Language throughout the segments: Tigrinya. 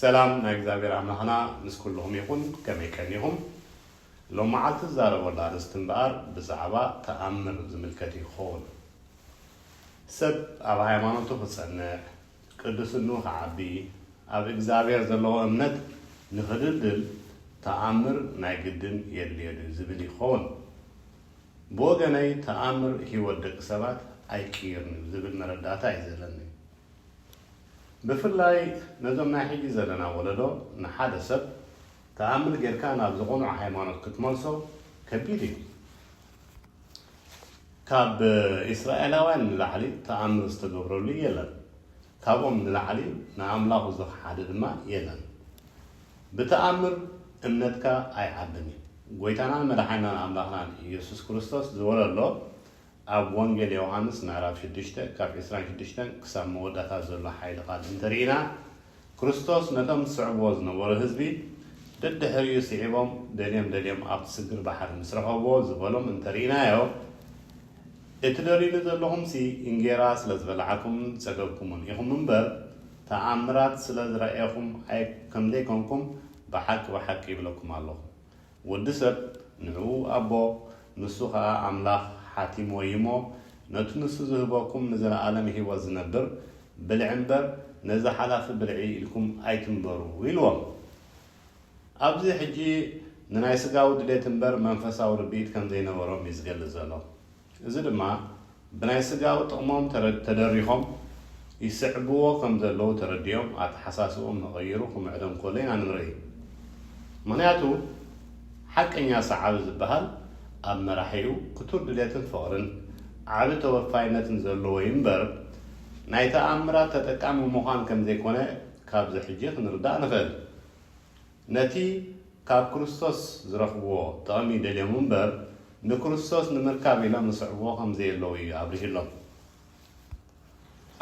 ሰላም ናይ እግዚኣብሔር ኣምላኽና ምስ ኩልኹም ይኹን ከመይ ቀኒኹም ሎም መዓልቲ ዝዛረበሉ ኣርእስቲ እምበኣር ብዛዕባ ተኣምር ዝምልከት እዩ ክኸውን ሰብ ኣብ ሃይማኖቱ ክጸንዕ ቅድስንኡ ክዓቢ ኣብ እግዚኣብሔር ዘለዎ እምነት ንኽድልድል ተኣምር ናይ ግድን የድልዮ ድዩ ዝብል እዩ ክኸውን ብወገነይ ተኣምር ሕይወት ደቂ ሰባት ኣይቅይርን እዩ ዝብል መረዳእታ እዩ ዘለኒ። ብፍላይ ነዞም ናይ ሕጂ ዘለና ወለዶ ንሓደ ሰብ ተኣምር ጌርካ ናብዚ ቅኑዕ ሃይማኖት ክትመልሶ ከቢድ እዩ። ካብ እስራኤላውያን ንላዕሊ ተኣምር ዝተገብረሉ የለን። ካብኦም ንላዕሊ ንኣምላኹ ዝኸሓደ ድማ የለን። ብተኣምር እምነትካ ኣይዓብን እዩ። ጎይታናን መድሓኒናን ኣምላኽናን ኢየሱስ ክርስቶስ ዝወለሎ ኣብ ወንጌል ዮውሃንስ ምዕራፍ ሽዱሽተ ካብ ዕስራን ሽዱሽተን ክሳብ መወዳእታ ዘሎ ሓይሊ ቃል እንተርኢና ክርስቶስ ነቶም ዝስዕብዎ ዝነበሩ ህዝቢ ደድሕሪኡ ስዒቦም ደልዮም ደልዮም ኣብቲ ስግር ባሕሪ ምስ ረኸብዎ ዝበሎም እንተርኢናዮ እትደልዩኒ ዘለኹምሲ እንጌራ ስለ ዝበላዕኩምን ዝጸገብኩምን ኢኹም እምበር ተኣምራት ስለ ዝረኣኹም ከምዘይኮንኩም ብሓቂ ብሓቂ ይብለኩም ኣለኹ። ወዲ ሰብ ንዕኡ ኣቦ ንሱ ኸኣ ኣምላኽ ሓቲምዎ እዩ እሞ፣ ነቲ ንሱ ዝህበኩም ንዘለኣለም ህይወት ዝነብር ብልዒ እምበር፣ ነዚ ሓላፊ ብልዒ ኢልኩም ኣይትንበሩ ኢልዎም። ኣብዚ ሕጂ ንናይ ስጋዊ ድሌት እምበር መንፈሳዊ ርድኢት ከም ዘይነበሮም እዩ ዝገልጽ ዘሎ። እዚ ድማ ብናይ ስጋዊ ጥቕሞም ተደሪኾም ይስዕብዎ ከም ዘለዉ ተረዲኦም ኣተሓሳስብኦም ንቐይሩ ክምዕዶም እንከሎ ኢና እንርኢ። ምኽንያቱ ሓቀኛ ሰዓቢ ዝበሃል ኣብ መራሒኡ ክቱር ድሌትን ፍቕርን ዓቢ ተወፋይነትን ዘለዎ'ዩ እምበር ናይ ተኣምራት ተጠቃሚ ምዃን ከም ዘይኮነ ካብዚ ሕጂ ክንርዳእ ንኽእል። ነቲ ካብ ክርስቶስ ዝረኽብዎ ጥቕሚ ደልዮም እምበር፣ ንክርስቶስ ንምርካብ ኢሎም ዝስዕብዎ ከም ዘየለዉ እዩ ኣብሪሁሎም።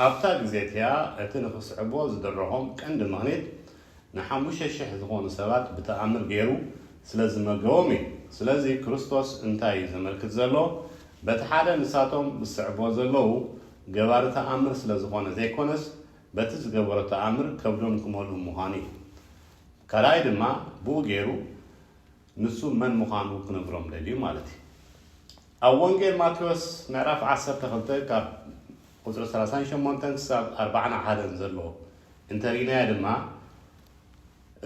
ኣብታ ግዜ እቲኣ እቲ ንኽስዕብዎ ዝደረኾም ቀንዲ ምኽኒት፣ ንሓሙሽተ ሽሕ ዝኾኑ ሰባት ብተኣምር ገይሩ ስለ ዝመገቦም እዩ። ስለዚ ክርስቶስ እንታይ እዩ ዘመልክት ዘሎ? በቲ ሓደ ንሳቶም ዝስዕብዎ ዘለዉ ገባሪ ተኣምር ስለ ዝኾነ ዘይኮነስ፣ በቲ ዝገበሮ ተኣምር ከብዶም ክመልኡ ምዃኑ እዩ። ካልኣይ ድማ ብኡ ገይሩ ንሱ መን ምዃኑ ክነግሮም ደልዩ ማለት እዩ። ኣብ ወንጌል ማቴዎስ ምዕራፍ ዓሰርተ ክልተ ካብ ቁጽሪ ሰላሳን ሸሞንተን ክሳብ ኣርባዓን ሓደን ዘሎ እንተርኢናዮ ድማ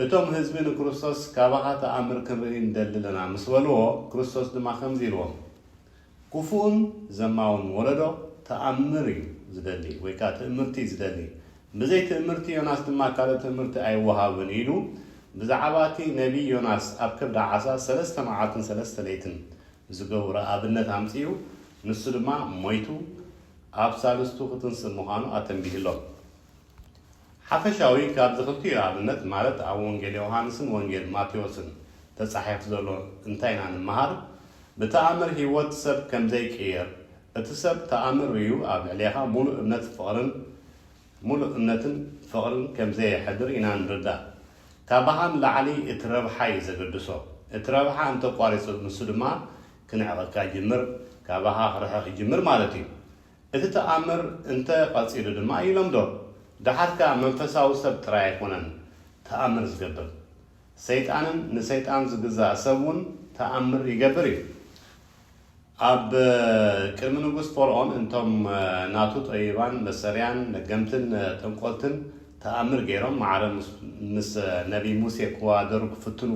እቶም ህዝቢ ንክርስቶስ ካባኻ ተኣምር ክንርኢ ንደሊ ኣለና ምስ በልዎ ክርስቶስ ድማ ከምዚ ኢልዎም ኩፉእን ዘማውን ወለዶ ተኣምር እዩ ዝደሊ ወይ ከኣ ትእምርቲ እዩ ዝደሊ። ብዘይ ትእምርቲ ዮናስ ድማ ካልእ ትእምርቲ ኣይወሃብን ኢሉ ብዛዕባ እቲ ነብዪ ዮናስ ኣብ ከብዲ ዓሳ ሰለስተ መዓልትን ሰለስተ ለይትን ዝገበሮ ኣብነት ኣምጺኡ ንሱ ድማ ሞይቱ ኣብ ሳልስቱ ክትንስእ ምዃኑ ኣተንቢሁሎም። ሓፈሻዊ ካብዚ ክልቲኡ ኣብነት ማለት ኣብ ወንጌል ዮውሃንስን ወንጌል ማቴዎስን ተጻሒፍ ዘሎ እንታይ ኢና ንመሃር? ብተኣምር ህይወት ሰብ ከም ዘይቅየር፣ እቲ ሰብ ተኣምር ርእዩ ኣብ ልዕሌኻ ሙሉእ እምነት ፍቕርን ሙሉእ እምነትን ፍቕርን ከም ዘየሕድር ኢና ንርዳእ። ካባኻ ንላዕሊ እቲ ረብሓ እዩ ዘገድሶ። እቲ ረብሓ እንተ ኣቋሪጹ ንሱ ድማ ክንዕቐካ ይጅምር፣ ካባኻ ክርሕቕ ይጅምር ማለት እዩ። እቲ ተኣምር እንተ ቐጺሉ ድማ ይለምዶ። ደሓር ከኣ መንፈሳዊ ሰብ ጥራይ ኣይኰነን ተኣምር ዝገብር። ሰይጣንን ንሰይጣን ዝግዛእ ሰብ እውን ተኣምር ይገብር እዩ። ኣብ ቅድሚ ንጉስ ፈርኦን እቶም ናቱ ጠቢባን መሰሪያን ለገምትን ጠንቈልትን ተኣምር ገይሮም ማዕረ ምስ ነብዪ ሙሴ ክወዳደሩ ክፍትኑ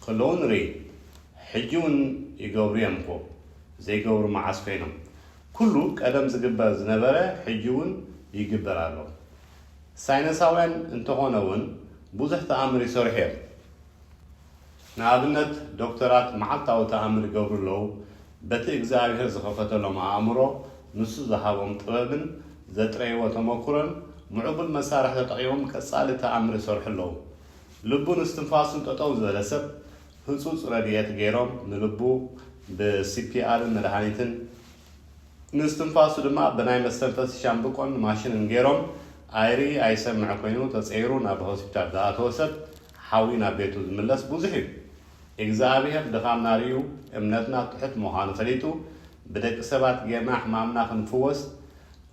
ከለዉ ንርኢ። ሕጂ እውን ይገብሩ እዮም እኮ። ዘይገብሩ መዓስ ኰይኖም? ኩሉ ቀደም ዝግበር ዝነበረ ሕጂ ውን ይግበር ኣሎ። ሳይነሳውያን እንተኾነ ውን ብዙሕ ተኣምር ይሰርሑ እዮም። ንኣብነት ዶክተራት መዓልታዊ ተኣምር ይገብሩ ኣለዉ፣ በቲ እግዝኣብሄር ዝኸፈተሎም ኣእምሮ፣ ንሱ ዝሃቦም ጥበብን ዘጥረይዎ ተመኩሮን ምዕቡል መሳርሒ ተጠቒሞም ቀጻሊ ተኣምር ይሰርሑ ኣለዉ። ልቡን እስትንፋሱን ጠጠው ዝበለ ሰብ ህጹጽ ረድኤት ገይሮም ንልቡ ብሲፒኣርን መድሃኒትን ንስትንፋሱ ድማ ብናይ መስተንፈሲ ሻምብቆን ማሽንን ገይሮም ኣይርኢ ኣይሰምዕ ኮይኑ ተጸይሩ ናብ ሆስፒታል ዝኣተወ ሰብ ሓዊ ናብ ቤቱ ዝምለስ ብዙሕ እዩ ኢግዝኣብሄር ድኻምና ሪኡ እምነትና ትሑት ምዃኑ ፈሊጡ ብደቂ ሰባት ገይርና ሕማምና ክንፍወስ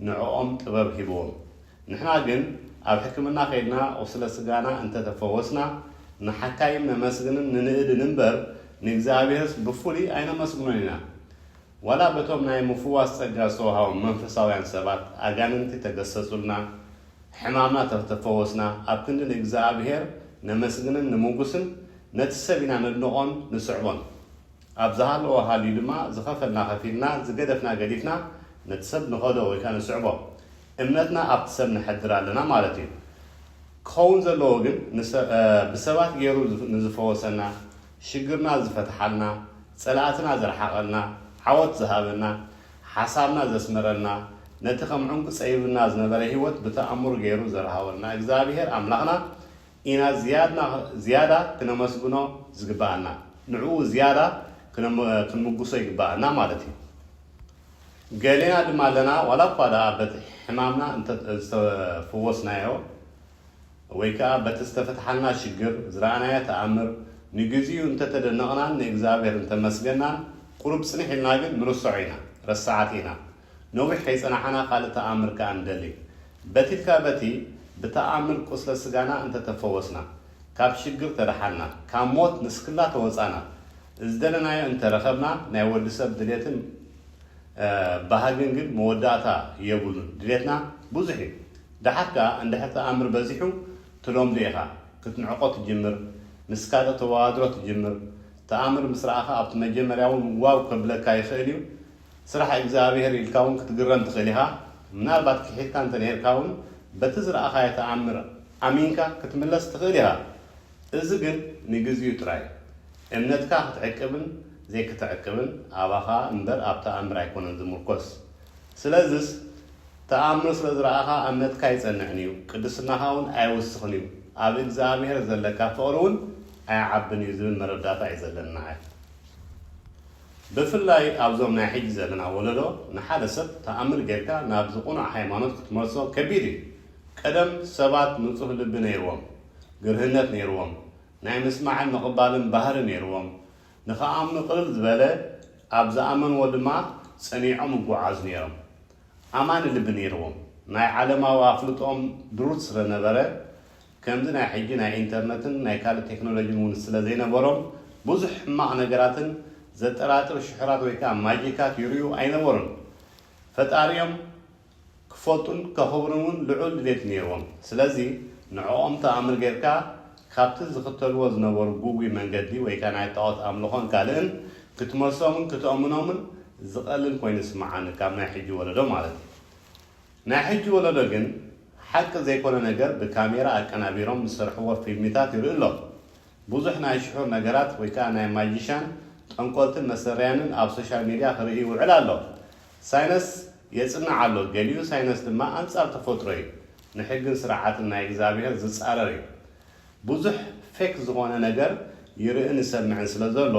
ንዕኦም ጥበብ ሂብዎም ንሕና ግን ኣብ ሕክምና ከይድና ቁስለ ስጋና እንተ ተፈወስና ንሓካይም ነመስግንን ንንእድን እምበር ንእግዚኣብሔርስ ብፍሉይ ኣይነመስግኖን ኢና። ዋላ በቶም ናይ ምፍዋስ ጸጋ ዝተወሃቦም መንፈሳውያን ሰባት ኣጋንንቲ ተገሰጹልና ሕማምና ተተፈወስና ኣብ ክንዲ ንእግዚኣብሔር ነመስግንን ንምጉስን ነቲ ሰብ ኢና ነድንቆን ንስዕቦን ኣብ ዝሃለዎ ሃልዩ ድማ ዝኸፈልና ከፊልና ዝገደፍና ገዲፍና ነቲ ሰብ ንኸዶ ወይከኣ ንስዕቦ እምነትና ኣብቲ ሰብ ነሕድር ኣለና ማለት እዩ። ክኸውን ዘለዎ ግን ብሰባት ገይሩ ንዝፈወሰና፣ ሽግርና ዝፈትሓልና፣ ፀላእትና ዘርሓቐልና፣ ዓወት ዝሃበና፣ ሓሳብና ዘስመረልና፣ ነቲ ከም ዑንቂ ፀቢብና ዝነበረ ህይወት ብተኣምር ገይሩ ዘርሃወልና እግዚኣብሄር ኣምላኽና ኢና ዝያዳ ክነመስግኖ ዝግበኣና። ንዕኡ ዝያዳ ክንምጉሶ ይግበኣና ማለት እዩ። ገሌና ድማ ኣለና ዋላ እኳ ደኣ በቲ ሕማምና እንተ ዝተፈወስናዮ ወይ ከኣ በቲ ዝተፈትሓልና ሽግር ዝረኣናዮ ተኣምር ንግዚኡ እንተ ተደነቕናን ንእግዝኣብሄር እንተ ኣመስገናን ቁሩብ ጽንሕ ኢልና ግን ንርሰዖ ኢና ረሳዓት ኢና ነዊሕ ከይጸናሓና ካልእ ተኣምር ከኣ ንደሊ በቲትካ በቲ ብተኣምር ቁስለ ስጋና እንተ ተፈወስና ካብ ሽግር ተደሓንና ካብ ሞት ንስክላ ተወጻና ዝደለናዮ እንተ ረኸብና ናይ ወዲ ሰብ ድሌትን ባህግን ግን መወዳእታ የብሉን ድሌትና ብዙሕ እዩ ደሓር ከኣ እንድሕር ተኣምር በዚሑ ትለምዶ ኢኻ ክትንዕቆ ትጅምር ምስ ካልእ ተዋዳድሮ ትጅምር ተኣምር ምስ ረኣኻ ኣብቲ መጀመርያ ውን ዋው ከብለካ ይኽእል እዩ ስራሕ እግዝኣብሄር ኢልካ ውን ክትግረም ትኽእል ኢኻ ምናልባት ኪሒድካ እንተ ነርካ ውን በቲ ዝረኣኻዮ ተኣምር ኣሚንካ ክትምለስ ትኽእል ኢኻ እዚ ግን ንግዚኡ ጥራይ እዩ። እምነትካ ክትዕቅብን ዘይክትዕቅብን ኣባኻ እምበር ኣብ ተኣምር ኣይኮነን ዝምርኮስ። ስለዝስ ተኣምር ስለ ዝረኣኻ እምነትካ ኣይጸንዕን እዩ፣ ቅድስናኻ እውን ኣይውስኽን እዩ፣ ኣብ እግዝኣብሄር ዘለካ ፍቕሪ እውን ኣይዓብን እዩ ዝብል መረዳእታ እዩ ዘለኒ ንዓይ። ብፍላይ ኣብዞም ናይ ሕጂ ዘለና ወለዶ ንሓደ ሰብ ተኣምር ጌርካ ናብዚ ቅኑዕ ሃይማኖት ክትመልሶ ከቢድ እዩ። ቀደም ሰባት ንጹህ ልቢ ነይርዎም፣ ግርህነት ነይርዎም፣ ናይ ምስማዕን ምቕባልን ባህሪ ነይርዎም፣ ንኽኣምኑ ቅልል ዝበለ፣ ኣብ ዝኣመንዎ ድማ ጸኒዖም ይጉዓዙ ነይሮም። ኣማኒ ልቢ ነይርዎም፣ ናይ ዓለማዊ ኣፍልጦኦም ድሩት ስለነበረ፣ ከምዚ ናይ ሕጂ ናይ ኢንተርነትን ናይ ካልእ ቴክኖሎጂን እውን ስለዘይነበሮም ብዙሕ ሕማቕ ነገራትን ዘጠራጥር ሽሑራት ወይ ከኣ ማጂካት ይርእዩ ኣይነበሩን። ፈጣሪኦም ክፈልጡን ከኽብሩን እውን ልዑል ድሌት ነይርዎም። ስለዚ ንዕኦም ተኣምር ገይርካ ካብቲ ዝኽተልዎ ዝነበሩ ግጉይ መንገዲ ወይ ከኣ ናይ ጣኦት ኣምልኾን ካልእን ክትመልሶምን ክትእምኖምን ዝቐልል ኮይኑ ይስምዓኒ ካብ ናይ ሕጂ ወለዶ ማለት እዩ። ናይ ሕጂ ወለዶ ግን ሓቂ ዘይኮነ ነገር ብካሜራ ኣቀናቢሮም ዝሰርሕዎ ፊልሚታት ይርኢ ኣሎ። ብዙሕ ናይ ሽሑር ነገራት ወይ ከኣ ናይ ማጂሻን፣ ጠንቆልትን መሰረያንን ኣብ ሶሻል ሚድያ ክርኢ ይውዕል ኣሎ። ሳይነስ የጽንዕ ኣሎ፣ ገሊኡ ሳይነስ ድማ ኣንጻር ተፈጥሮ እዩ፣ ንሕግን ስርዓትን ናይ እግዝኣብሄር ዝጻረር እዩ። ብዙሕ ፌክ ዝኾነ ነገር ይርእን ይሰምዕን ስለዘሎ፣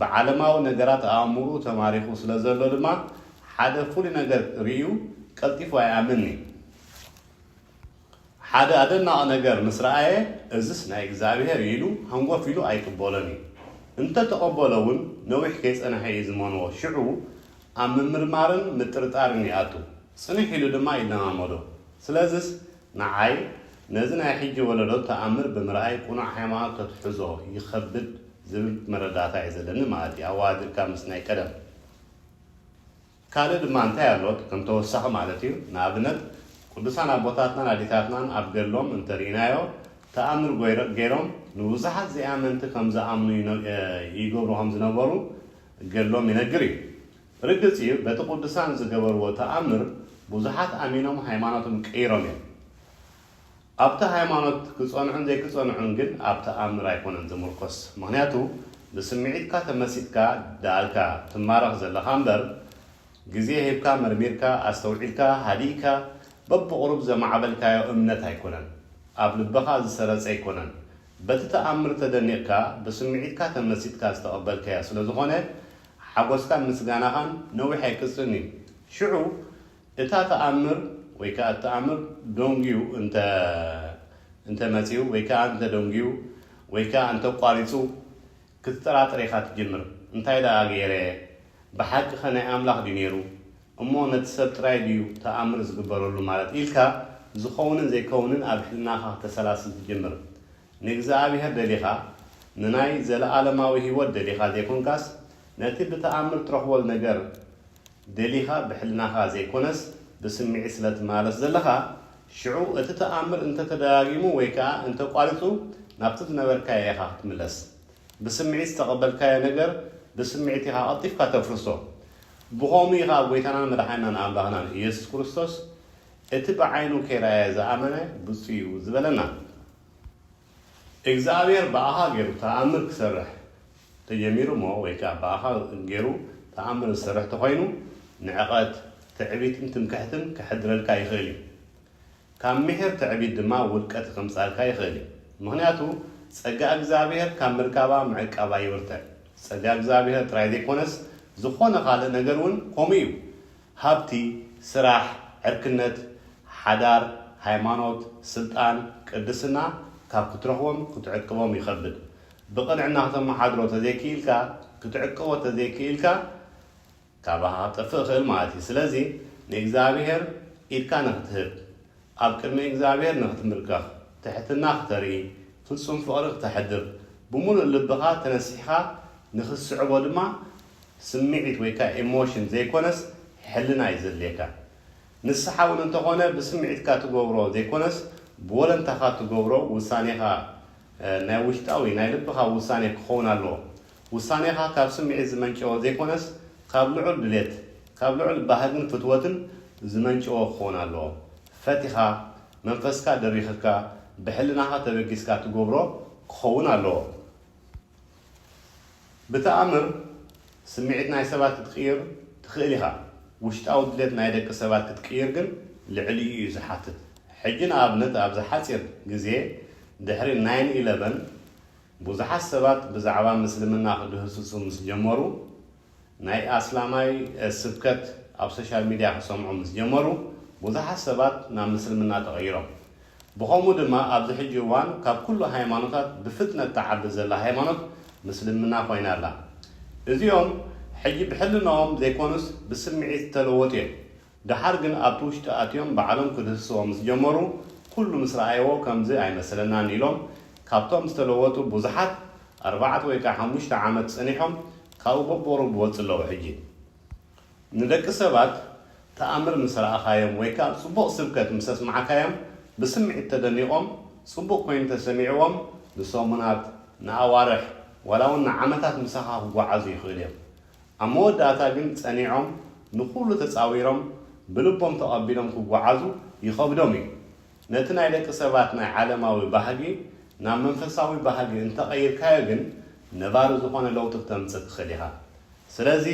ብዓለማዊ ነገራት ኣእምርኡ ተማሪኹ ስለዘሎ ድማ ሓደ ፍሉይ ነገር ርእዩ ቀልጢፉ ኣይኣምንን'ዩ። ሓደ ኣደናቒ ነገር ምስ ረኣየ፣ እዝስ ናይ እግዚኣብሄር እዩ ኢሉ ሃንጎፍ ኢሉ ኣይቅበሎን እዩ። እንተ ተቐበሎ እውን ነዊሕ ከይጸንሐ እዩ ዝመንዎ፣ ሽዑ ኣብ ምምርማርን ምጥርጣርን ይኣቱ፣ ጽንሕ ኢሉ ድማ ይለማመዶ። ስለዝስ ንዓይ ነዚ ናይ ሕጂ ወለዶ ተኣምር ብምርኣይ ቅኑዕ ሃይማኖት ከትሕዞ ይኸብድ ዝብል መረዳእታ እዩ ዘለኒ ማለት እዩ፣ ኣወሃዲርካ ምስ ናይ ቀደም። ካልእ ድማ እንታይ ኣሎ ከም ተወሳኺ ማለት እዩ፣ ንኣብነት ቅዱሳን ኣቦታትናን ኣዴታትናን ኣብ ገድሎም እንተ ርኢናዮ ተኣምር ገይሮም ንብዙሓት ዘይኣመንቲ ከም ዝኣምኑ ይገብሩ ከም ዝነበሩ ገድሎም ይነግር እዩ። ርግጽ እዩ በቲ ቅዱሳን ዝገበርዎ ተኣምር ብዙሓት ኣሚኖም ሃይማኖቶም ቀይሮም እዮም። ኣብቲ ሃይማኖት ክጸንዑን ዘይክጸንዑን ግን ኣብ ተኣምር ኣይኮነን ዝምርኮስ ምኽንያቱ ብስምዒትካ ተመሲጥካ ድኣልካ ትማረኽ ዘለኻ እምበር ግዜ ሂብካ መርሚርካ ኣስተውዒልካ ሃዲእካ በብቑሩብ ዘማዕበልካዮ እምነት ኣይኮነን ኣብ ልብኻ ዝሰረጸ ኣይኮነን በቲ ተኣምር ተደኒቕካ ብስምዒትካ ተመሲጥካ ዝተቐበልካዮ ስለዝኾነ ሓጎስካን ምስጋናኻን ነዊሕ ኣይቅጽልን እዩ ሽዑ እታ ተኣምር ወይ ከኣ እተኣምር ደንጉዩ እንተ እንተ መጺኡ ወይ ከኣ እንተ ደንጉዩ ወይ ከኣ እንተ ኣቋሪጹ ክትጠራጠር ኢኻ ትጅምር እንታይ ደኣ ገይረ ብሓቂኸ ናይ ኣምላኽ ድዩ ነይሩ እሞ ነቲ ሰብ ጥራይ ድዩ ተኣምር ዝግበረሉ ማለት ኢልካ ዝኸውንን ዘይከውንን ኣብ ሕልናኻ ክተሰላስል ትጅምር ንእግዝኣብሄር ደሊኻ ንናይ ዘለኣለማዊ ሂወት ደሊኻ ዘይኮንካስ ነቲ ብተኣምር ትረኽቦ ነገር ደሊኻ ብሕልናኻ ዘይኮነስ ብስምዒት ስለ ትመላለስ ዘለኻ፣ ሽዑ እቲ ተኣምር እንተ ተደጋጊሙ ወይ ከኣ እንተ ቋሪጹ ናብቲ ዝነበርካዮ ኢኻ ክትምለስ። ብስምዒት ዝተቐበልካዮ ነገር ብስምዒት ኢኻ ቀልጢፍካ ተፍርሶ። ብኸምኡ ኢኻ ጎይታናን መድሓኒናን ኣምላኽናን ኢየሱስ ክርስቶስ እቲ ብዓይኑ ከይረኣየ ዝኣመነ ብጹእ እዩ ዝበለና። እግዚኣብሔር ብኣኻ ገይሩ ተኣምር ክሰርሕ ተጀሚሩ እሞ ወይ ከኣ ብኣኻ ገይሩ ተኣምር ዝሰርሕ ተኾይኑ ንዕቐት፣ ትዕቢትን ትምክሕትን ከሕድረልካ ይኽእል እዩ። ካብ ምሒር ትዕቢት ድማ ውድቀት ከምጽኣልካ ይኽእል እዩ። ምኽንያቱ ጸጋ እግዚኣብሔር ካብ ምርካባ ምዕቃባ ይብርትዕ። ጸጋ እግዚኣብሔር ጥራይ ዘይኮነስ ዝኾነ ካልእ ነገር እውን ከምኡ እዩ። ሃብቲ፣ ስራሕ፣ ዕርክነት፣ ሓዳር፣ ሃይማኖት፣ ስልጣን፣ ቅድስና ካብ ክትረኽቦም ክትዕቅቦም ይኸብድ። ብቕንዕና ክተመሓድሮ ተዘይክኢልካ፣ ክትዕቅቦ ተዘይክኢልካ ካባኻ ክጠፍእ ይኽእል ማለት እዩ። ስለዚ ንእግዚኣብሄር ኢድካ ንኽትህብ፣ ኣብ ቅድሚ እግዚኣብሄር ንኽትምብርከኽ፣ ትሕትና ክተርኢ፣ ፍጹም ፍቕሪ ክተሕድር፣ ብምሉእ ልብኻ ተነሲሕካ ንኽትስዕቦ ድማ ስምዒት ወይ ከኣ ኤሞሽን ዘይኮነስ ሕልና እዩ ዘድልየካ። ንስሓ እውን እንተኾነ ብስምዒትካ ትገብሮ ዘይኮነስ ብወለንታኻ ትገብሮ ውሳኔኻ ናይ ውሽጣዊ ናይ ልብኻ ውሳኔ ክኸውን ኣለዎ። ውሳኔኻ ካብ ስምዒት ዝመንጨወ ዘይኮነስ ካብ ልዑል ድሌት ካብ ልዑል ባህግን ፍትወትን ዝመንጨወ ክኸውን ኣለዎ። ፈቲኻ መንፈስካ ደሪኽካ ብሕልናኻ ተበጊስካ ትገብሮ ክኸውን ኣለዎ። ብተኣምር ስምዒት ናይ ሰባት ክትቅይር ትኽእል ኢኻ፣ ውሽጣዊ ድሌት ናይ ደቂ ሰባት ክትቅይር ግን ልዕሊኡ እዩ ዝሓትት። ሕጂ ንኣብነት ኣብዚ ሓጺር ግዜ ድሕሪ ናይን ኢለቨን ብዙሓት ሰባት ብዛዕባ ምስልምና ክድህስሱ ምስ ጀመሩ፣ ናይ ኣስላማይ ስብከት ኣብ ሶሻል ሚድያ ክሰምዑ ምስ ጀመሩ ብዙሓት ሰባት ናብ ምስልምና ተቐይሮም። ብኸምኡ ድማ ኣብዚ ሕጂ እዋን ካብ ኩሉ ሃይማኖታት ብፍጥነት ትዓቢ ዘላ ሃይማኖት ምስልምና ኮይና ኣላ። እዚኦም ሕጂ ብሕልናኦም ዘይኮኑስ ብስምዒት ዝተለወጡ እዮም። ደሓር ግን ኣብቲ ውሽጢ ኣትዮም ባዕሎም ክድህስስዎ ምስ ጀመሩ ኩሉ ምስ ረኣይዎ ከምዚ ኣይመሰለናን ኢሎም ካብቶም ዝተለወጡ ብዙሓት ኣርባዕት ወይ ከኣ ሓሙሽተ ዓመት ጸኒሖም ካብኡ በቦሩ ብወጽ ኣለዉ ሕጂ ንደቂ ሰባት ተኣምር ምስ ረኣኻዮም ወይ ከኣ ጽቡቕ ስብከት ምስ ኣስማዕካዮም ብስምዒት ተደኒቖም ጽቡቕ ኮይኑ ተሰሚዕዎም ንሰሙናት ንኣዋርሕ ዋላ ውን ንዓመታት ምሳኻ ክጎዓዙ ይኽእሉ እዮም ኣብ መወዳእታ ግን ጸኒዖም ንኹሉ ተጻዊሮም ብልቦም ተቐቢሎም ክጓዓዙ ይኸብዶም እዩ። ነቲ ናይ ደቂ ሰባት ናይ ዓለማዊ ባህጊ ናብ መንፈሳዊ ባህጊ እንተቐይርካዮ ግን ነባሪ ዝኾነ ለውጢ ክተምጽእ ትኽእል ኢኻ። ስለዚ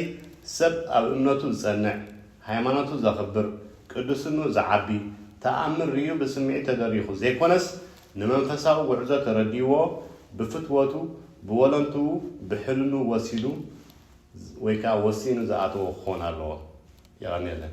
ሰብ ኣብ እምነቱ ዝጸንዕ፣ ሃይማኖቱ ዘኽብር፣ ቅድስንኡ ዝዓቢ፣ ተኣምር ርእዩ ብስምዒት ተደሪኹ ዘይኮነስ ንመንፈሳዊ ጉዕዞ ተረዲኡዎ ብፍትወቱ ብወለንትኡ ብሕልኑ ወሲዱ ወይ ከኣ ወሲኑ ዝኣተዎ ክኾን ኣለዎ። የቐንየለይ።